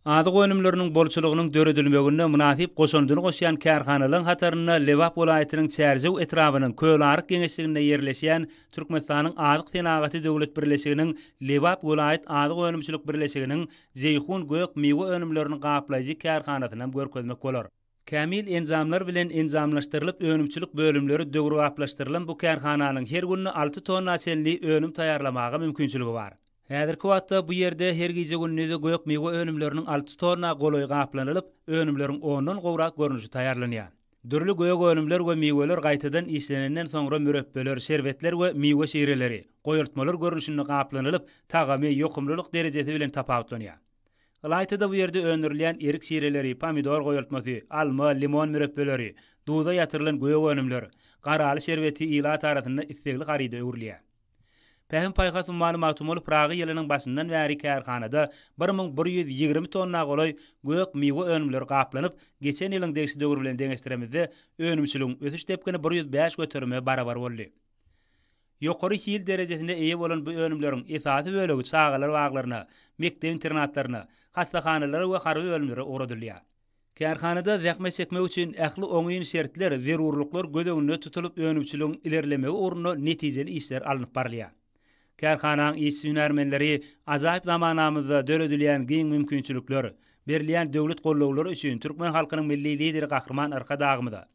Azyk önümleriniň bolçulygynyň döredilmeginde mynasyp goşandyny goşýan kärhanalaryň hatarynda Lebap welaýatynyň Çärjew etrabynyň Kölaryk geňeşliginde ýerleşýän Türkmenistanyň Azyk senagaty döwlet birleşiginiň Lebap welaýat azyk önümçilik birleşiginiň Jeýhun gök miwe önümlerini gaplaýjy kärhanasynam görkezmek bolar. Kämil enjamlar bilen enjamlaşdyrylyp önümçilik bölümleri döwrebaplaşdyrylan bu kärhananyň her günde alty tonna çenli önüm taýýarlamaga mümkinçiligi bar. Häzirki wagtda bu ýerde her gije-gündizi gök-miwe önümleriniň alty tonna golaýy gaplanylyp, önümleriň ondan gowrak görnüşi taýýarlanýar. Dürli gök önümler we miweler gaýtadan işlenenden soňra mürepbeler, şerbetler we miwe şireleri, goýultmalar görnüşinde gaplanylyp, tagamy, ýokumlylyk derejesi bilen tapawutlanýar. Ylaýta-da bu ýerde öndürilýän erik şireleri, pomidor goýultmasy, alma, limon mürepbeleri, duza ýatyrylan gök önümler, garaly şerbeti ilat arasynda islegli haryda öwrülýär. Pähim-paýhas ummany Magtymguly Pyragy ýylynyň başyndan bäri kärhanada bir müň bir ýüz ýigrimi tonna golaý gök miwe önümleri gaplanyp, geçen ýylyň degişli döwri bilen deňeşdiremizde, önümçiligiň ösüş depgini bir ýüz bäş göterime barabar boldy. Ýokary hil derejesine eýe bolan bu önümleriň esasy bölegi çagalar baglaryna, mekdep-internatlaryna, hassahanalara we harby bölümlere ugradylýar. Kärhanada zähmet çekmek üçin ähli oňyn şertler, zerurlyklar göz öňünde tutulyp, önümçiligiň ilerlemegi ugrunda netijeli işler alnyp barylýar. Kärhananyň işçi-hünärmenleri ajaýyp zamanamyzda döredilýän giň mümkinçilikler, berilýän döwlet gollawlary üçin türkmen halkynyň Milli Lideri Gahryman Arkadagymyza,